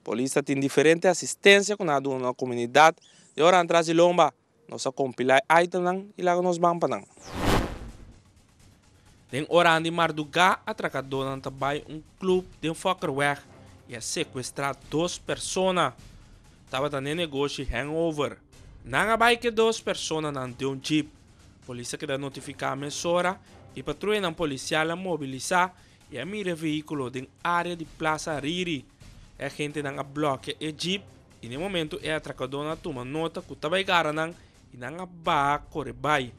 Polis ta tin diferente asistensia ku nan a duna nos komunidat i ora nan tras di lomba nos a kompilá e aitemnan i laga nos ban pa nan. Den oranan di mardugá atrakadonan ta bai un club den Fokkerweg y a secuestra dos persona. Tabata n'e negoshi Hangover. Nan a bai cu e dos personanan den un jeep. Polis a keda notificá mesora y patruyanan policial a mobilisá y a mira e vehiculo den area di Plaza Ariri. E agentenan a blokia e jeep y n'e momento e atracadonan a tuma nota cu ta bai gara nan y nan a baha kore bai.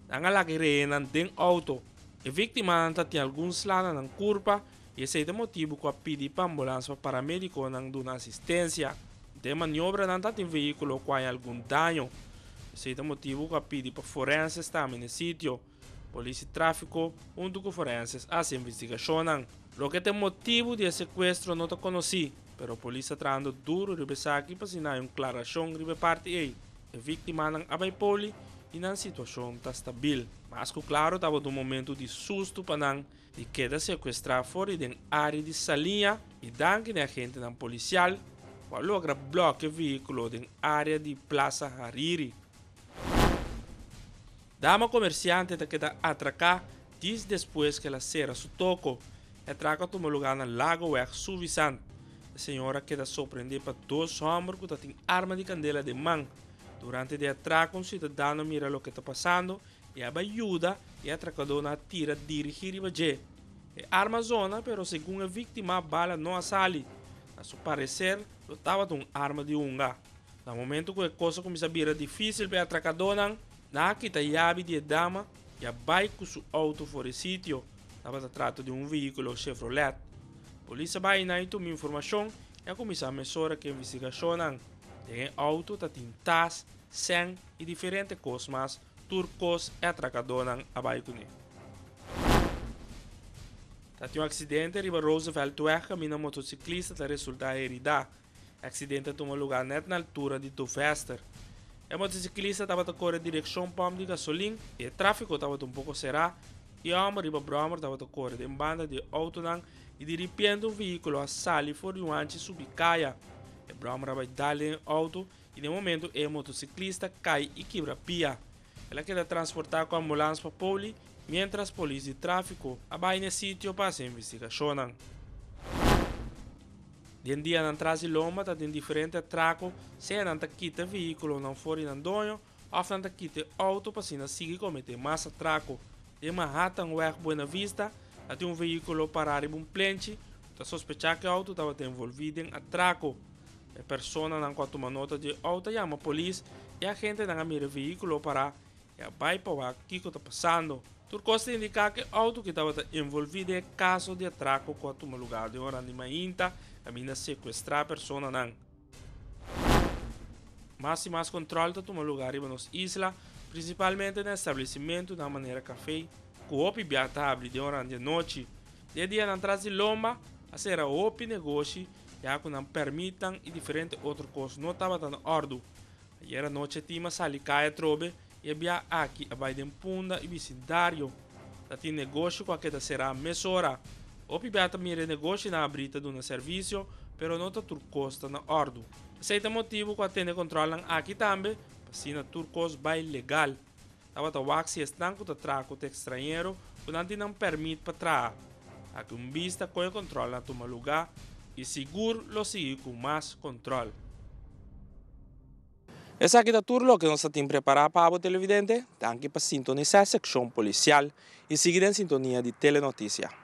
Nan a laga e rehenan den auto. E víctimanan ta tin algun sla na nan kurpa y esey ta motibu cu a pidi pa ambulans pa paramédiconan duna asistencia. Den maniobranan ta tin vehículo cu a hay algun daño. Esey ta motibu cu a pidi pa forenses tambe n'e sitio. Polisi Tráfiko huntu ku forenses a hasi investigashonnan. Loke ta e motibu di e sekuestro no ta konosí, pero polis ta trahando duru riba esaki pa siná un klarashon riba e parti ei. E víktimanan a bai poli i nan situashon ta stabil. Mas ku klaro tabata un momentu di sustu pa nan di keda sekuestrá for di den área di Salinha i danki na e agentenan polisial ku a logra blòkea e vehíkulo den área di Plaza Hariri. Dama komersiante ta keda atraká dis despues ku el a sera su toko. E atrako a tuma lugá na Lagoweg, Suwisant. E señor a keda sorprendé pa dos hòmber ku ta tin arma di kandela den man. Durante di e atrako un siudadano a mira loke ta pasando i a bai yuda i e atrakadónan a tira dirigí riba dje. E arma a zona pero segun e víktima bala no a sali. Na su pareser lo tabata un arma di hunga. Na momentu ku e kos a kuminsá bira difísil pa e atrakadónan, Na a kita yabi di e dama i a bai ku su outo for e sitio. Tabata trata di un vehíkulo Chevrolet. Polis a bai na i tuma informashon i a kuminsá mesora ku e investigashonnan. Den e outo ta tin tas, sèn i diferente kos mas, tur kos e atrakadónan a bai kuné. Ta tin un aksidente riba Rooseveltweg kaminda un motosiklista ta resultá heridá. Accidente a tuma lugar net na altura di Tuvester. E motociclista tabata core direccion pump di gasolin y e trafico tabata un poco cera y e homber riba brommer tabata core den banda di e autonan y di ripiente un vehiculo a sali for di un hanchi subi caya. E brommer a bay dal den e auto y den momento e motociclista cay y kibra pia. El a keda transportá ku ambulans pa Poli miéntras polis di tráfiko a bai na e sitio pa hasi investigashonnan. Den dianan tras di lomba ta den diferente atrako, sea nan ta kita vehíkulonan for di nan doño òf nan ta kita e outo pa asina sigui kometé mas atrako. Den Manhattanweg Buenavista ta tin un vehíkulo pará riba un plenchi ku ta sospechá ku e outo tabata envolví den atrako. E personanan ku a tuma nota dje outo a yama polis. E agentenan a mira e vehíkulo a pará i a bai pa wak kiko ta pasando. Tur kos ta indiká ku e outo ki tabata envolví den e kaso di atrako ku a tuma lugá den ora di mainta kaminda sekuestrá e personanan. Mas i mas kontròl ta tuma lugá riba nos isla, prinsipalmente na establesimentunan manera kafé ku hopi biaha ta habri den oran di anochi. Des dianan tras di lomba, a sera hopi negoshi. ya cu nan permitnan y diferente otro cos no tabata na ordu. Ayer anoche Tima sali cay atrobe y e biaha aki a bay den Punda y bicindario. Ta tin negoshi cu a keda cera mesora. Hopi biaha ta mira e negoshinan abri ta duna servicio pero no ta tur cos ta na ordu. Esey ta motibu cu a tene controlnan aki tambe pa asina tur cos bay legal. Tabata wak si esnan ku ta traha ku tekstrañero ku nan tin nan pèrmit pa traha. Aki un bis ta kohe kontròl na tuma lugá i sigur lo sigui ku mas kontròl. Esaki ta tur loke nos ta tin prepará pa abo televidente. Danki pa sintonisá sekshon Polisial i sigui den sintonia di Telenotisia.